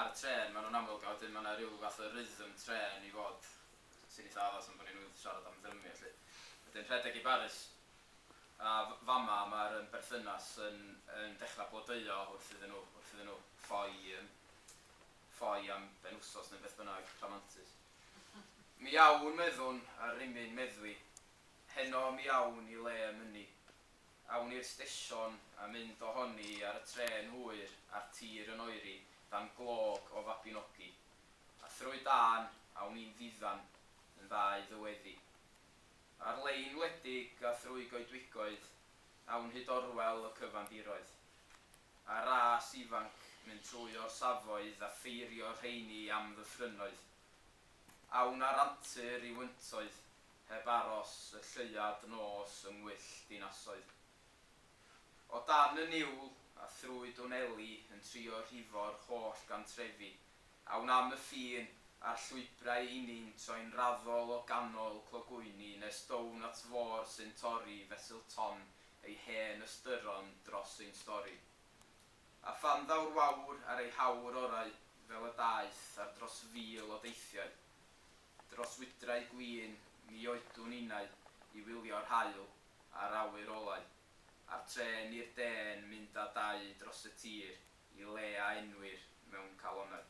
Ar y trên maen nhw'n amlwg a wedyn mae yna rhyw fath o rhythm trên i fod sy'n eitha addas am bod ni newydd siarad am ddrymio 'lly. Wedyn rhedeg i Baris a fama mae'r yym berthynas yn yn dechrau blodeuo wrth iddyn nhw wrth iddyn nhw ffoi yym ffoi am benwsos neu beth bynnag rhamantus. Mi awn meddwn ar rimyn meddwi heno mi awn i le mynnu Awn i'r stesion a mynd ohoni ar y trên hwyr a'r tir yn oeri dan glog o Fabinogi. A thrwy dân, awn i'n ddiddan, yn ddau ddyweddi. Ar lein wledig a thrwy goedwigoedd, awn hyd orwel y cyfandiroedd. A'r ras ifanc, mynd trwy orsafoedd a ffeirio'r rheini am ddyffrynnoedd. a wna'r antur i'w yntoedd heb aros y lleuad nos yng ngwyll dinasoedd. O dan y niwl a thrwy dwneli yn trio rhifo'r holl gantrefi a wnam y ffin a'r llwybrau i ni'n troi'n raddol o ganol clogwyni nes down at fôr sy'n torri fesul ton ei hen ystyron dros ein stori. a phan ddaw'r wawr ar ei hawr orau fel y daeth ar dros fil o deithiau dros wydrau gwin mi oedwn innau i wylio'r haul a'r awyr olau a'r trên i'r de'n mynd a dau dros y tir i le a enwir mewn calonnau.